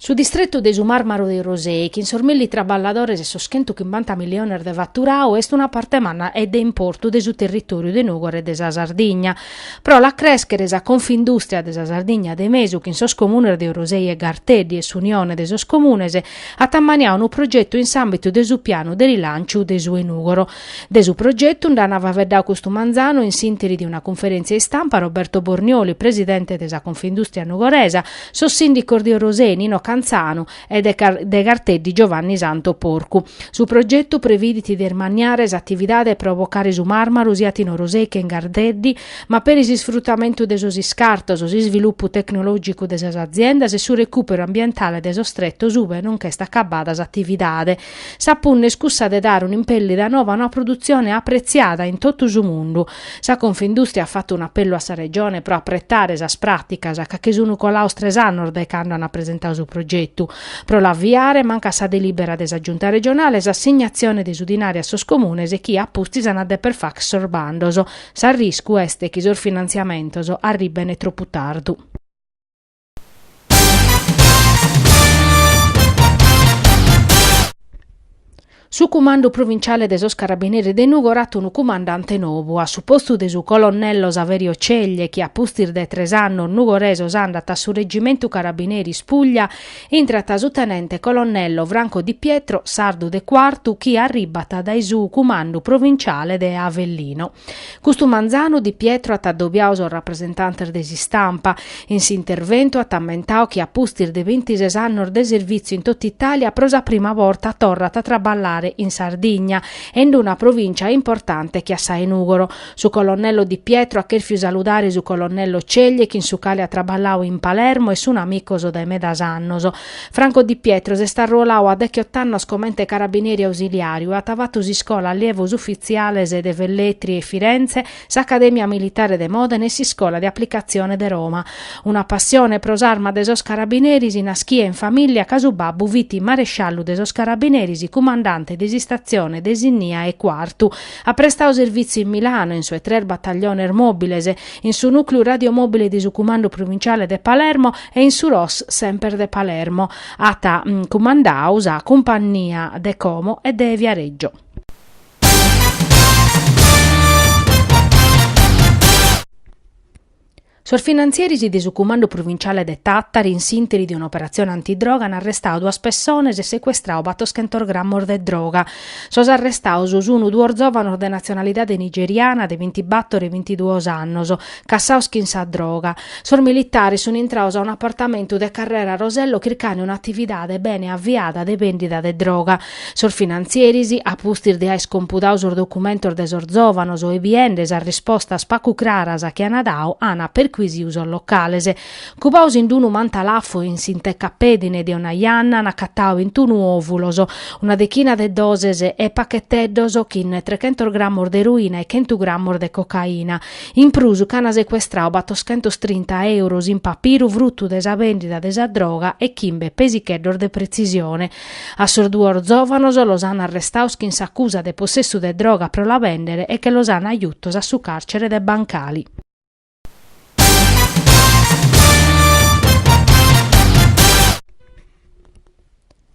Su distretu de su Màrmaru de Orosei, chin sos milli traballadores e sos chentu chimbanta milliones de faturadu, est una parte manna e de importu de su territòriu de Nùgoro e de sa Sardigna. Pro la crèschere sa Confindùstria de sa Sardigna de Mesu, chin sos comunes de Orosei e Garteddi e s'Unione de sos Comunes, at ammaniadu unu progetu in s'àmbitu de su pianu de rilànciu de su 'e Nùgoro. De su progetu nd'ana faveddau custu manzanu in s'ìnteri de una cunferentzia istampa Roberto Bornioli, presidente de sa Confindustria Nugoresa, sos sindicos de Orosei Nino Canzanu e de Garteddi Giovanni Santo Porcu. Su progetu previdit de ismanniare s'atividade de bocare su marmaru siat in Orosei che in Garteddi, ma peri s'isfrutamentu de sos iscartos, s'isvilupu tecnologicu de sas aziendas e su recùperu ambientale de sos tretos ue non ch'est acabada s'atividade. Sa punna est cussa de dare un'impèllida nova a una produtzione apretziada in totu su mundu. Sa Confindùstria at fatu un'apellu a sa Regione pro apretare sas pràticas ca che sunt colados tres annos dae cando ant presentadu su progetu. Pro l'aviare mancat sa delìbera de sa Giunta Regionale e s'assignatzione de su dinari a sos Comunes chi a pustis ant a deper fagher sos bandos. S'arriscu est chi sos finantziamentos arribbene tropu tardu. Su cumandu provinciale de sos Carabineris de Nùgoro at unu cumandante nobu. A su postu de su colonnello Saverio Ceglie, chi a pustis de tres annos nugoresos andat a su Reggimentu Carabineris Puglia, intrat su tenente colonnello Franco Di Pietro, sardu de Quartu, chi arribbat dae su cumandu provinciale de Avellino. Custu manzanu Di Pietro at adobiadu sos rapresentantes de s'istampa. In s'interventu at ammentadu chi a pustis de bintises annos de servìtziu in totu Itàlia pro sa prima borta torrat a traballare in Sardigna e in una provìncia importante che a sa 'e Nùgoro. Su colonnello Di Pietro at chèrfiu saludare su colonnello Ceglie chin su cale at traballau in Palermo e sun amicos dae medas annos. Franco Di Pietro s'est arruoladu a dechiott'annos comente carabineri ausiliàriu e at fatu s'iscola allievos ufitziales de Velletri e Firenze, s'Acadèmia militare de Mòdene e s'Iscola de aplicatzione de Roma. Una passione pro s'arma de sos carabineris nàschida in famìllia ca su babbu fit maresciallu de sos carabineris, cumandante de s'Istatzione de Sinnia e Quartu. At prestadu servìtziu in Milano, in sos tres batagliones mòbiles, in su nùcleu radiomòbile de su Cumandu Pruvinciale de Palermo e in su ROS semper de Palermo. At cumandadu sa cumpannia de Como e de Viareggio. Sos finantzieris de su Cumandu Pruvinciale de Tàtari, in s'ìnteri de un'operatzione antidroga, an arrestadu duas pessones e secuestradu batorchentos grammos de droga. Sos arrestaos sun duos zòvanos de natzionalidade nigeriana de bintibattor e bintiduos annos, cassaos chin sa droga. Sos militares sun intraos a un'apartamentu de Carrera Rosello chircande un'atividade bene aviada de bèndida de droga. Sos finantzieris, a pustis de aer iscompudau sos documentos de sos zòvanos e biende sas rispostas pagu craras chi an dau, an percuisiu sos locales. Cubaus in d-unu mantalafu in s'intercapèdine de una janna an acatau bintunu òvulos, una dechina de doses e pacheteddos chin trechentos grammos de eroina e chentu grammos de cocaina. In prus ch'an secuestrau battoschentos trinta euros in papiru fruttu de sa bèndida de sa droga e chimbe pesicheddos de pretzisione. A sos duos zòvanos los an arrestaos chin s'acusa de possessu de droga pro la bèndere e che los an jutos a su càrcere de Bancali.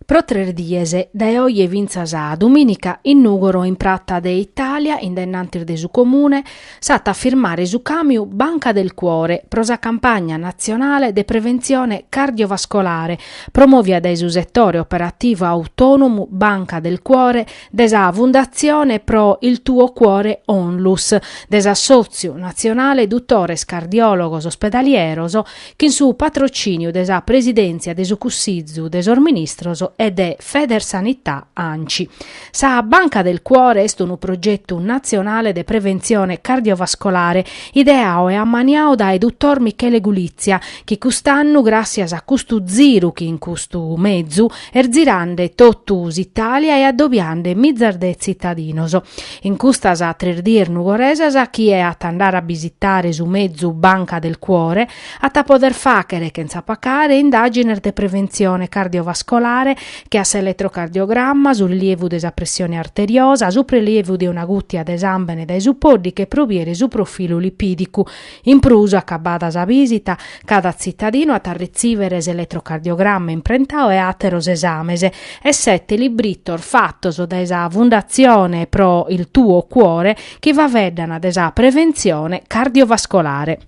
Pro tres dies, dae oje fintzas a dumìnica, in Nùgoro in Prata de Itàlia, in dennantis de su Comune, s'at a firmare su càmiu Banca del Cuore pro sa campagna natzionale de preventzione cardiovascolare promòvia dae su setore operativu autònomu Banca del Cuore de sa Fundatzione pro il tuo cuore Onlus, de s'Assòtziu natzionale dutores cardiòlogos ospedalieros, chin su patrocìniu de sa Presidèntzia de su Cussizu de sos Ministros e de Federsanità Anci. Sa Banca del Cuore est unu progetu natzionale de preventzione cardiovascolare ideau e ammaniau dae dutor Michele Gulizia, chi cust'annu, gràtzias a custu ziru chin custu mezu, est zirande totu s'Italia e addobiande mizas de tzitadinos. In custas tres dies nugoresas chie at a andare a bisitare su mezu Banca del Cuore at a poder fàchere chentza pacare indàgines de preventzione cardiovascolare che a s'eletrocardiogramma, su rilievu de sa pressione arteriosa, su prelievu de una gùtia de sàmbene dae su pòddiche pro bìere su profilu lipìdicu. In prus, acabada sa bìsita, cada tzitadinu at a retzìvere s'eletrocardiogramma imprentau e àteros esames, e sete libritos fatos dae sa Fundatzione pro il tuo cuore chi faveddan de sa preventzione cardiovascolare.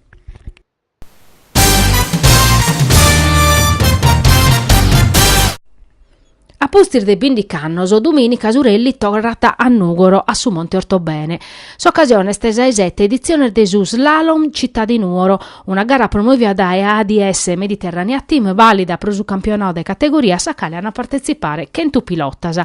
A pustis de bindic'annos, dumìnica su rally torrat a Nùgoro a su Monte Ortobene. S'ocasione est sa 'e sete editzione de su Slalom Città di Nuoro, una gara promòvia dae ADS Mediterranea Team vàlida pro su campionau de categoria a sa cale ant a partetzipare chentu pilotas.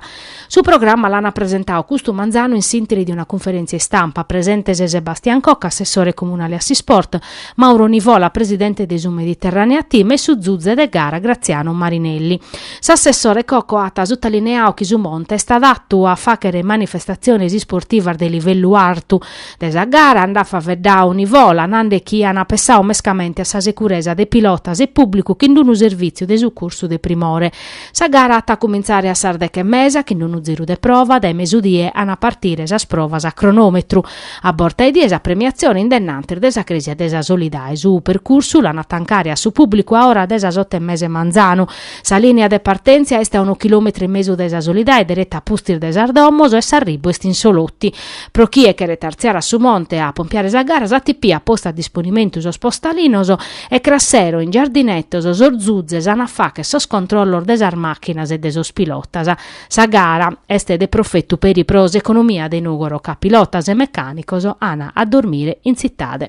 Su programma l'ant presentau custu manzanu in s'ìnteri de una cunferèntzia istampa, presentes Sebastian Cocco, assessore comunale a s'isport, Mauro Nivola, presidente de su Mediterranea Team e su zuze de gara Graziano Marinelli. S'assessore Coco at sutalineau chi su Monte est adatu a fàghere manifestatziones isportivas de livellu artu. De sa gara nd'at faveddau Nivola, nande chi an pessau mescamente a sa securesa de pilotas e pùblicu chin d'unu servìtziu de sucursu de primore. Sa gara at a cumintzare a sas deghe e mesa chin d'unu ziru de prova, dae mesudie an a partire sas provas a cronòmetru. A borta 'e die sa premiatzione in dennantis de sa Crèsia de sa Solidade. Su percursu l'an a tancare a su pùblicu a ora de sas oto e mesa 'e manzanu. Sa lìnia de partèntzia est a unu chilòmetru e mesu dae sa Solidade dereta a pustis de sas domos e s'arribu est in Solotti. Pro chie cheret artziare a su monte a pompiare sa gara s'ATP at postu a disponimentu sos postalinos e cras sero in Giardinetos sos zuzes an a fàchere sos controllos de sas màchinas e de sos pilotas. Sa gara est de profetu peri pro s'economia de Nùgoro ca pilotas e mecànicos ana a dormire in tzitade.